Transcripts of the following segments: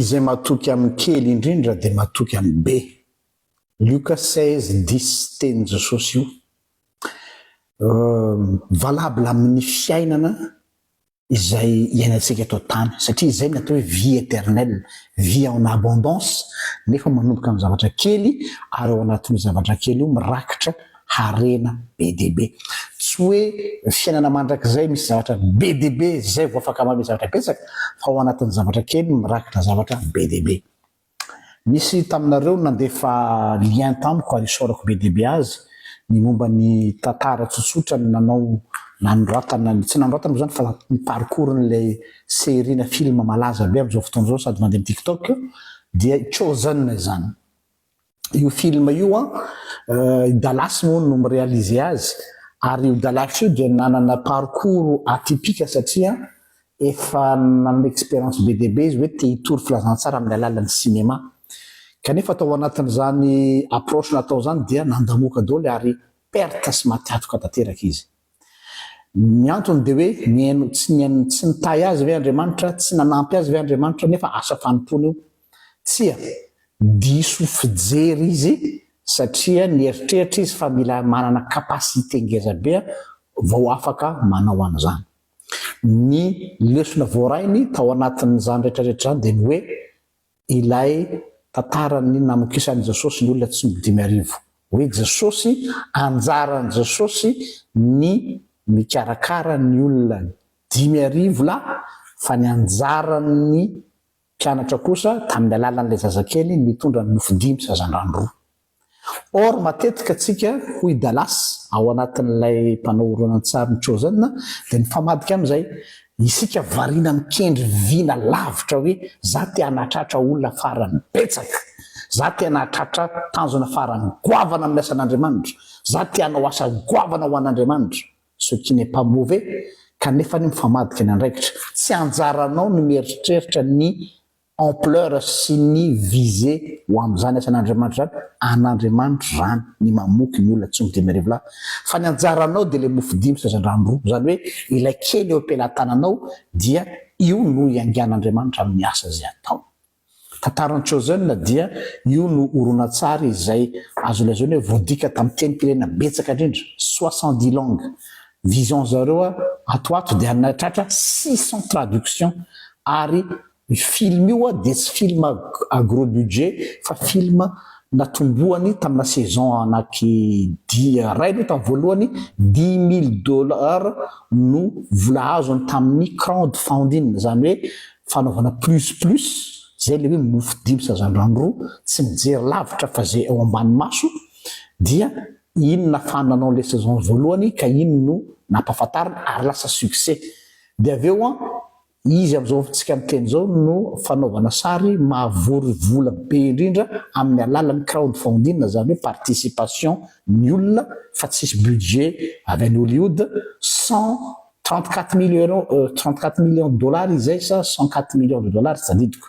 Izay matoky amin'ny kely indrindra dia matoky amin'ny be. Lioka seize dix Tenin'i Jesosy io. Valable amin'ny fiainana izay iainantsika eto an-tany satria izay no atao hoe vie éternelle, vie en abondance nefa manomboka amin'ny zavatra kely ary ao anatin'io zavatra kely io mirakitra harena be dia be. Tsy hoe ny fiainana mandrakizay misy zavatra be dia be izay vao afaka manome zavatra betsaka, fa ao anatin'ny zavatra kely mirakitra zavatra be dia be. Nisy taminareo no nandefa lien tamiko ary isaorako be dia be azy, ny momba ny tantara tsotsotra ny nanao nanoratana ny, tsy nanoratana moa izany fa ny parcours n'ilay série na film malaza be amin'izao fotoana izao sady mandeha amin'ny TikTok dia i Chosen izany. io film io an ah, i Dallas moa no mi-réaliser azy ary io Dallas io dia nanana parcours atypique satria efa nanana expérience be dia be izy hoe te hitory filazantsara amin'ny alalan'ny cinéma. Kanefa tao anatin'izany approche natao izany dia nandamoka daholo ary perte sy maty hatoka tanteraka izy. Ny antony dia hoe nihaino tsy nihaino tsy nitahy azy ve Andriamanitra, tsy nanampy azy ve Andriamanitra nefa asa fanompoana io? Tsia, diso fijery izy satria nieritreritra izy fa mila manana capacité ngeza be vao afaka manao an'izany. Ny lesona voarainy tao anatin'izany rehetra rehetra izany dia ny hoe ilay tantaran'ny namokisan'i Jesosy ny olona tsy dimy arivo. Hoe Jesosy, anjaran'i Jesosy ny mikarakara ny olona dimy arivo lahy, fa ny anjaran'ny mpianatra kosa, tamin'ny alalan'ilay zazakely, ny mitondra ny mofo dimy sy hazandrano roa. Or matetika tsika hoy Dallas ao anatin'ilay mpanao horonantsary ny Chosen dia mifamadika amin'izay, isika variana mikendry vina lavitra hoe za te hanatratra olona farany betsaka, za te hanatratra tanjona farany goavana amin'ny asan'Andriamanitra, za te hanao asa goavana ho an'Andriamanitra, ce qui n'est pas mauvais, kanefa anie mifamadika ny andraikitra, tsy anjaranao ny mieritreritra ny ampleur sy ny visée ho amin'izany asan'Andriamanitra izany, an'Andriamanitra izany ny mamoky ny olona tsy midimy arivo lahy, fa ny anjaranao dia ilay mofo dimy sy hazandrano roa, izany hoe ilay kely eo am-pelatananao dia io no iangan'Andriamanitra amin'ny asa izay ataony. Tantaran'i Chosen dia io no horonantsary izay azo lazaina hoe voadika tamin'ny tenim-pirenena betsaka indrindra, soixante-dix langues, vision zareo ato ho ato dia nahatratra six cents traductions ary Io film io a dia tsy film à gros budget fa film natombohany tamina saison anaky dimy iray aloha tamin'ny voalohany dix mille dollars no vola azony tamin'ny crowd funding izany hoe fanaovana plus plus izay ilay hoe mofo dimy sazandrano roa tsy mijery lavitra fa izay ao ambany maso dia iny nafahany nanao ilay saison voalohany ka iny no nampahafantarina ary lasa succès dia avy eo an Izy amin'izao fotoantsika miteny izao no fanaovana sary mahavory vola be indrindra amin'ny alalan'ny crowdfunding na izany hoe participation ny olona fa tsisy budget avy any Hollywood, cent trente quatre mille euros, trente quatre millions de dollars izay sa cent quatre millions de dollars tsy tadidiko.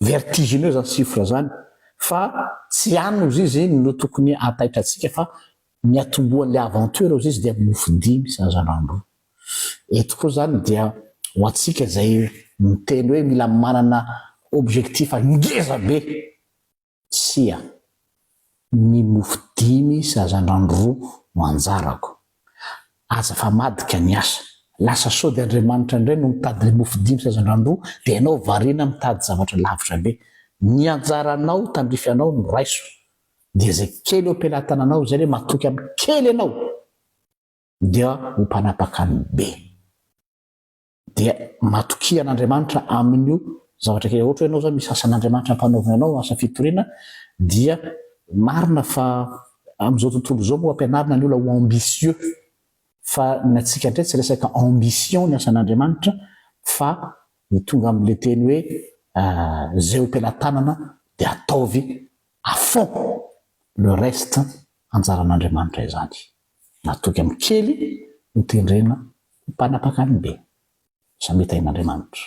Vertigineux zany chiffre zany fa tsy any ozizy no tokony hahataitra antsika fa ny atombohan'ilay aventure ozizy dia mofo dimy sy hazandrano roa. Eto koa zany dia ho antsika izay miteny hoe mila manana objectif ngeza be. Tsia. Ny mofo dimy sy hazandrano roa no anjarako. Aza fa madika ny asa. Lasa sody Andriamanitra indray no mitady ilay mofo dimy sy hazandrano roa dia ianao variana mitady zavatra lavitra be. Ny anjaranao tandrify anao no raiso. Dia izay kely eo am-pelatananao izay ilay matoky amin'ny kely ianao dia ho mpanapaka ny be. dia matokia an'Andriamanitra amin'io zavatra kely ohatra hoe ianao izao misy asan'Andriamanitra ampanaovina anao asa fitoriana dia marina fa amin'izao tontolo izao moa ampianarina ny olona ho ambitieux fa ny antsika indray tsy resaka ambition ny asan'Andriamanitra fa ny tonga amin'ilay teny hoe izay ho pelatanana dia ataovy à fond le reste anjaran'Andriamanitra izany Natoky amin'ny kely ho tendrena ho mpanapaka ny be. Samia tahin'Andriamanitra.